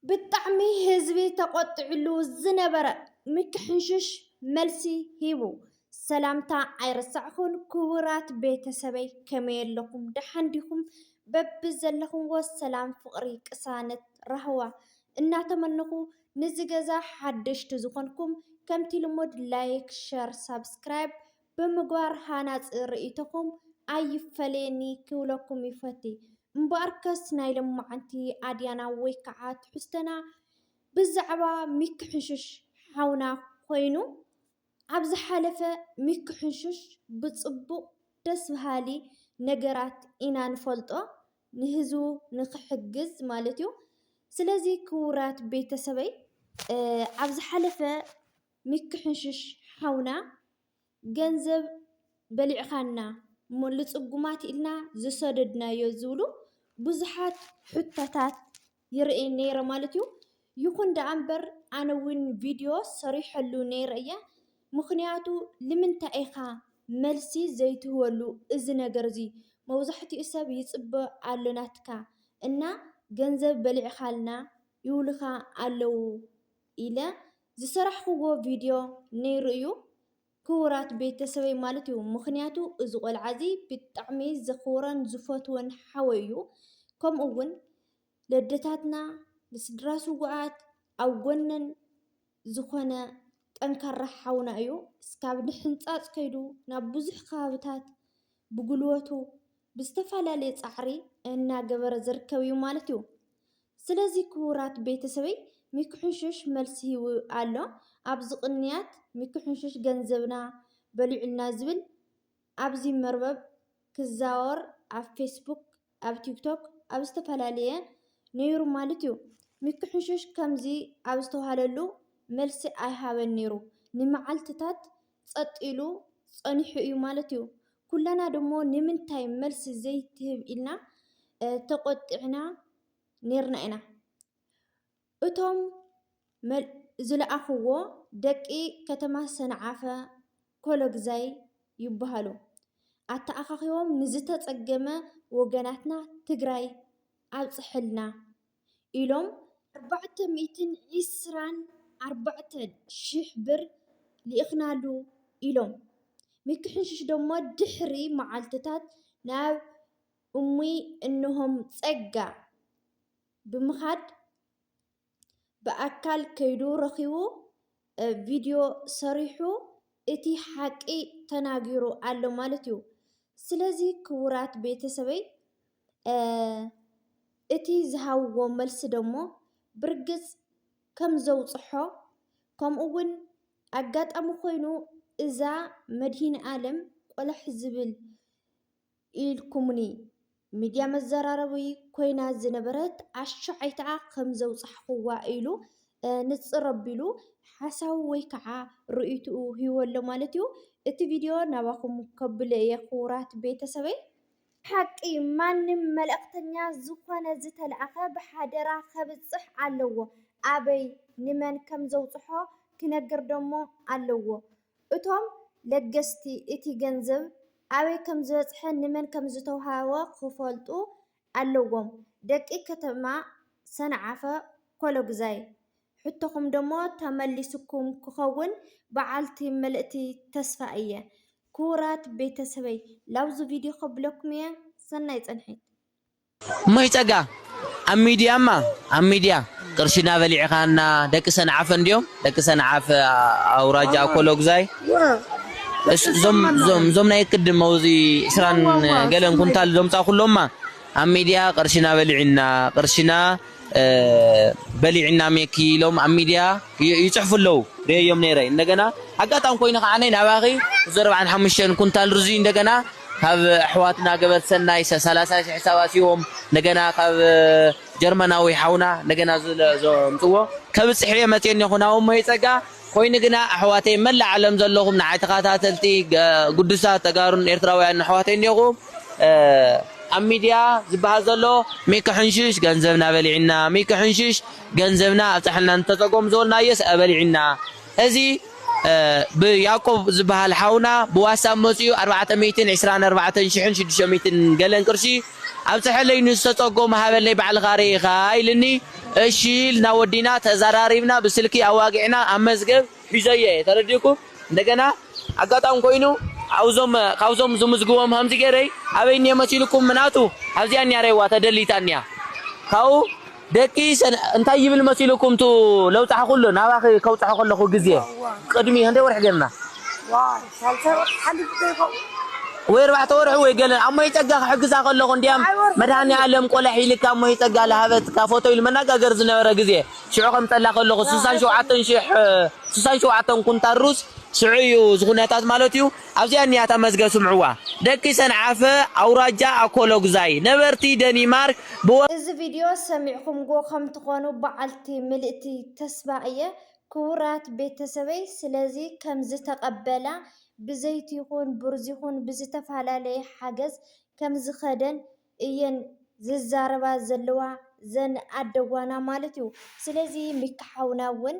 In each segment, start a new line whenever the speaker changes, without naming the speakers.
ብጣዕሚ ህዝቢ ተቖጢዕሉ ዝነበረ ምክሕሽሽ መልሲ ሂቡ። ሰላምታ ኣይረሳዕኩን ክቡራት ቤተሰበይ ከመይ ኣለኹም ደሓን ዲኹም በብዘለኹምዎ ሰላም ፍቕሪ ቅሳነት ራህዋ እናተመነኹ ንዚ ገዛ ሓደሽቲ ዝኾንኩም ከምቲ ልሙድ ላይክ ሸር ሳብስክራይብ ብምግባር ሃናፂ ርኢቶኹም ኣይፈለየኒ ክብለኩም ይፈቲ። እምበኣርከስ ናይ ሎምዓንቲ ኣድያና ወይ ከዓ ትሕዝቶና ብዛዕባ ሚኪ ሕንሹሽ ሓውና ኮይኑ ኣብ ዝሓለፈ ሚኪ ሕንሹሽ ብፅቡቕ ደስ በሃሊ ነገራት ኢና ንፈልጦ ንህዝቡ ንኽሕግዝ ማለት እዩ። ስለዚ ክቡራት ቤተሰበይ ኣብ ዝሓለፈ ሚኪ ሕንሹሽ ሓውና ገንዘብ በሊዕኻና እሞ ልፅጉማት ኢልና ዝሰደድናዮ ዝብሉ ብዙሓት ሕቶታት ይርእይ ነይረ ማለት እዩ። ይኹን ደኣ እምበር ኣነ እውን ቪድዮ ሰሪሐሉ ነይረ እየ። ምኽንያቱ ልምንታይ ኢኻ መልሲ ዘይትህበሉ እዚ ነገር እዚ መብዛሕትኡ ሰብ ይፅበ ኣሎ ናትካ እና ገንዘብ በሊዕኻልና ይብሉኻ ኣለዉ። ኢለ ዝሰራሕክዎ ቪድዮ ነይሩ እዩ ክቡራት ቤተሰበይ ማለት እዩ ምኽንያቱ እዚ ቆልዓ እዚ ብጣዕሚ ዘኽብሮን ዝፈትዎን ሓወይ እዩ ከምኡ እውን ለደታትና ንስድራ ስውኣት ኣብ ጎነን ዝኾነ ጠንካራ ሓውና እዩ እስካብ ንሕንፃፅ ከይዱ ናብ ብዙሕ ከባብታት ብጉልበቱ ብዝተፈላለየ ፃዕሪ እናገበረ ዝርከብ እዩ ማለት እዩ። ስለዚ ክቡራት ቤተሰበይ ሚኪሕንሹሽ መልሲ ሂቡ ኣሎ ኣብዚ ቅንያት ሚኪሕንሹሽ ገንዘብና በሊዑልና ዝብል ኣብዚ መርበብ ክዛወር ኣብ ፌስቡክ ኣብ ቲክቶክ ኣብ ዝተፈላለየ ነይሩ ማለት እዩ ሚኪሕንሹሽ ከምዚ ኣብ ዝተውሃለሉ መልሲ ኣይሃበን ነይሩ ንመዓልትታት ጸጥ ኢሉ ጸኒሑ እዩ ማለት እዩ። ኩልና ደሞ ንምንታይ መልሲ ዘይትህብ ኢልና ተቆጢዕና ኔርና ኢና። እቶም ዝለኣኹዎ ደቂ ከተማ ሰንዓፈ ኮሎግዛይ ይበሃሉ። ኣተኣኻኺቦም ንዝተጸገመ ወገናትና ትግራይ ኣብጽሕልና። ኢሎም ኣርባዕተ ሚእትን ዒስራን ኣርባዕተን ሽሕ ብር ልኢኽናሉ ኢሎም ምክሕንሽሽ ደሞ ድሕሪ መዓልትታት ናብ እሙይ እንሆም ፀጋ ብምኻድ ብኣካል ከይዱ ረኺቡ ቪድዮ ሰሪሑ እቲ ሓቂ ተናጊሩ ኣሎ ማለት እዩ። ስለዚ ክቡራት ቤተሰበይ እቲ ዝሃብዎ መልሲ ደሞ ብርግጽ ከም ዘውጽሖ ከምኡ ውን ኣጋጣሚ ኮይኑ እዛ መድሂንኣለም ቆላሕ ዝብል ኢልኩሙኒ ሚድያ መዘራረቢ ኮይና ዝነበረት ኣሻዓይታኣ ከም ዘውጻሕኩዋ ኢሉ ንጽር ኣቢሉ ሓሳቡ ወይ ከዓ ርእይትኡ ሂቡ ኣሎ ማለት እዩ። እቲ ቪድዮ ናባኹም ከብሎ እየ ክቡራት ቤተሰበይ። ብሓቂ ማንም መልእኽተኛ ዝኾነ ዝተልኣኸ ብሓደራ ከብጽሕ ኣለዎ ኣበይ ንመን ከም ዘውጽሖ ክነግር ደሞ ኣለዎ እቶም ለገስቲ እቲ ገንዘብ ኣበይ ከም ዝበጽሐ ንመን ከም ዝተውሃበ ክፈልጡ ኣለዎም ደቂ ከተማ ሰንዓፈ ኮሎግዛይ ሕቶኹም ደሞ ተመሊሱኩም ክኸውን ብዓልቲ ምልእቲ ተስፋ እየ ኩቡራት ቤተሰበይ ላብዙ ቪድዮ ከብለኩም እየ ሰናይ ፅንሒት። እሞሽ
ጸጋ ኣብ ሚድያ እማ ኣብ ሚድያ ቅርሽና በሊዕካና ደቂ ሰንዓፈ እንድዮም ደቂ ሰንዓፈ ኣውራጃ ኣኮሎጉዛይ እዞም እዞም እዞም ናይ ቅድም መውዚ ዕስራን ገለን ኩንታል ዘምጻኹሎማ ኣብ ሚድያ ቅርሽና በሊዕና ቅርሽና በሊዕና ሜኪ ኢሎም ኣብ ሚድያ ይፅሕፉ ኣለው ሪኤዮም ነይረ እንደገና ኣጋጣሚ ኮይኑ ከዓ ናባኺ ዘረብዓን ሓሙሽተን ኩንታል ርዙይ እንደገና ካብ ኣሕዋትና ገበር ሰናይ ሰላሳ ሽሕ ሒሳብ ኣትዎም እንደገና ካብ ጀርመናዊ ሓውና እንደገና ዘምፅዎ ከብፅሕ እየ መፅየ እኔኹ ናብሞይ ፀጋ ኮይኑ ግና ኣሕዋተይ መላእ ዓለም ዘለኹም ንዓይ ተኻታተልቲ ግዱሳት ተጋሩን ኤርትራውያንን ኣሕዋተይ እንዲኹም ኣብ ሚድያ ዝብሃል ዘሎ ሚኪ ሕንሽሽ ገንዘብና በሊዕና ሚኪ ሕንሽሽ ገንዘብና ኣብፀሐልና ንተፀጎም ዝበልናዮስ ኣበሊዕና እዚ ብያቆብ ዝብሃል ሓውና ብዋትሳብ መፂኡ ኣርባዕተ ሚእትን ዕስራን ኣርባዕተን ሽሕን ሽዱሽተ ሚእትን ገለን ቅርሺ ኣብፀሐለይ ንዝተፀጎሙ ሃበለይ ባዕልኻ ሪኢኻ ኢልኒ እሺ ኢልና ወዲና ተዛራሪብና ብስልኪ ኣዋጊዕና ኣብ መዝገብ ሒዘዮ እየ ተረዲእኩም እንደገና ኣጋጣሚ ኮይኑ ኣብዞም ካብዞም ዝምዝግቦም ሃምዚ ገይረይ ኣበይ እኒሀ መሲልኩም ምናቱ ኣብዚኣ እኒያ ሬዋ ተደሊታ እኒያ ካብኡ ደቂ ሰነ እንታይ ይብል መሲሉኩም ቱ ለውጻሕ ኩሉ ናባኺ ከውጽሖ ከለኹ ግዜ ቅድሚ ክንደይ ወርሒ ጌርና ዋይ ሳልሳይ ወርሒ
ሓሊፉ ዶ ይኸውን ወይ ኣርባዕተ
ወርሒ ወይ ገለ ኣሞይ ጸጋ ክሕግዛ ከለኹ እንዲያም መድሃኒ ኣለም ቆለ ሒልካ ኣሞይ ጸጋ ለሃበትካ ፎቶ ኢሉ መናጋገር ዝነበረ ግዜ ሽዑ ከምጸላ ከለኹ ስሳን ሸውዓተን ሽሕ ስሳን ሸውዓተን ኩንታል ሩዝ ሽዑ እዩ ዝኹነታት ማለት እዩ ኣብዚኣ እኒኣ እታ መዝገብ ስምዕዋ ደቂ ሰንዓፈ ኣውራጃ ኣኮሎጉዛይ ነበርቲ ደኒማርክ ብ። እዚ ቪድዮ
ሰሚዕኹምጎ ከም ትኾኑ በዓልቲ ምልእቲ ተስፋ እየ ክቡራት ቤተሰበይ ስለዚ ከም ዝተቀበላ ብዘይቲ ይኹን ብሩዝ ይኹን ብዝተፋላለየ ሓገዝ ከም ዝኸደን እየን ዝዛረባ ዘለዋ ዘን ኣደዋና ማለት እዩ ስለዚ ሚኪ ሓውና እውን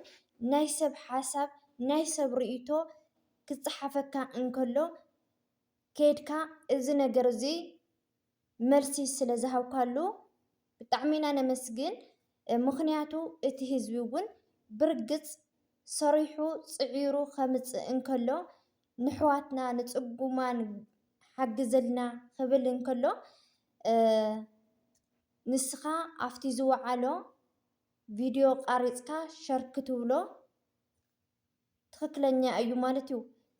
ናይ ሰብ ሓሳብ ናይ ሰብ ርእይቶ ክጸሓፈካ እንከሎ ከይድካ እዚ ነገር እዚ መልሲ ስለ ዝሃብካሉ ብጣዕሚ ኢና ነመስግን። ምኽንያቱ እቲ ህዝቢ እውን ብርግጽ ሰሪሑ ጽዒሩ ከምጽእ እንከሎ ንሕዋትና ንጽጉማን ሓግዝልና ክብል እንከሎ ንስኻ ኣብቲ ዝወዓሎ ቪድዮ ቃሪጽካ ሸር ክትብሎ ትክክለኛ እዩ ማለት እዩ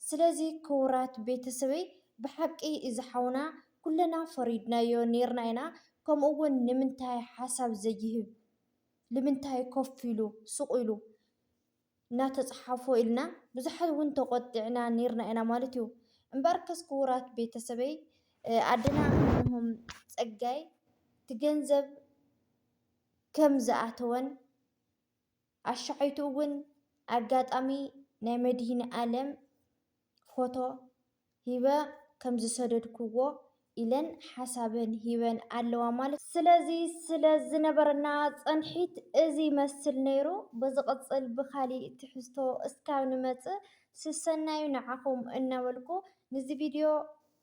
ስለዚ ክውራት ቤተሰበይ ብሓቂ እዚ ሓውና ኩለና ፈሪድናዮ ነይርና ኢና ከምኡ እውን ንምንታይ ሓሳብ ዘይህብ ልምንታይ ኮፍ ኢሉ ሱቅ ኢሉ እናተፅሓፎ ኢልና ብዙሓት እውን ተቆጢዕና ነይርና ኢና ማለት እዩ እምበኣርከስ ክውራት ቤተሰበይ ኣደና እንሆም ፀጋይ ትገንዘብ ከም ዝኣተወን ኣሻሓይቱ እውን ኣጋጣሚ ናይ መድሂንኣለም ፎቶ ሂበ ከም ዝሰደድክዎ ኢለን ሓሳበን ሂበን ኣለዋ ማለት እዩ። ስለዚ ስለ ዝነበረና ጸንሒት እዚ ይመስል ነይሩ። ብዝቕጽል ብኻሊእ ትሕዝቶ እስካብ ንመጽእ ስሰናዩ ንዓኹም እናበልኩ ንዚ ቪድዮ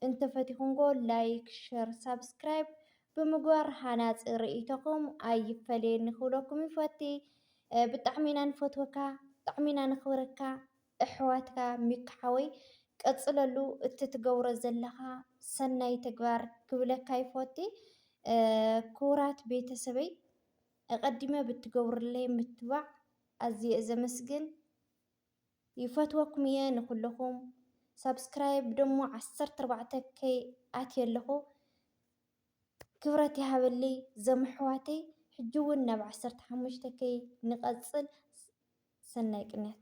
እንተፈቲኹምዎ ላይክ፣ ሸር፣ ሳብስክራይብ ብምግባር ሃናፂ ርእይቶኹም ኣይፈለየኒ ክብለኩም ይፈቲ። ብጣዕሚ ኢና ንፈትወካ ብጣዕሚ ኢና ነኽብረካ እሕዋትካ ሚኪ ሓወይ ቀፅለሉ እቲ ትገብሮ ዘለኻ ሰናይ ተግባር ክብለካ ይፈቲ። ክቡራት ቤተሰበይ እቐዲመ ብትገብሩለይ ምትባዕ ኣዝየ እየ ዘመስግን። ይፈትወኩም እየ ንኩልኩም ሳብስክራይብ ደሞ ዓሰርተ ኣርባዕተ ከይ ኣትየ ኣለኩ ክብረት ይሃበልይ ዘም ኣሕዋተይ ሕጂ ውን ናብ ዓሰርተ ሓሙሽተ ከይ ንቀፅል ሰናይ ቅንያት።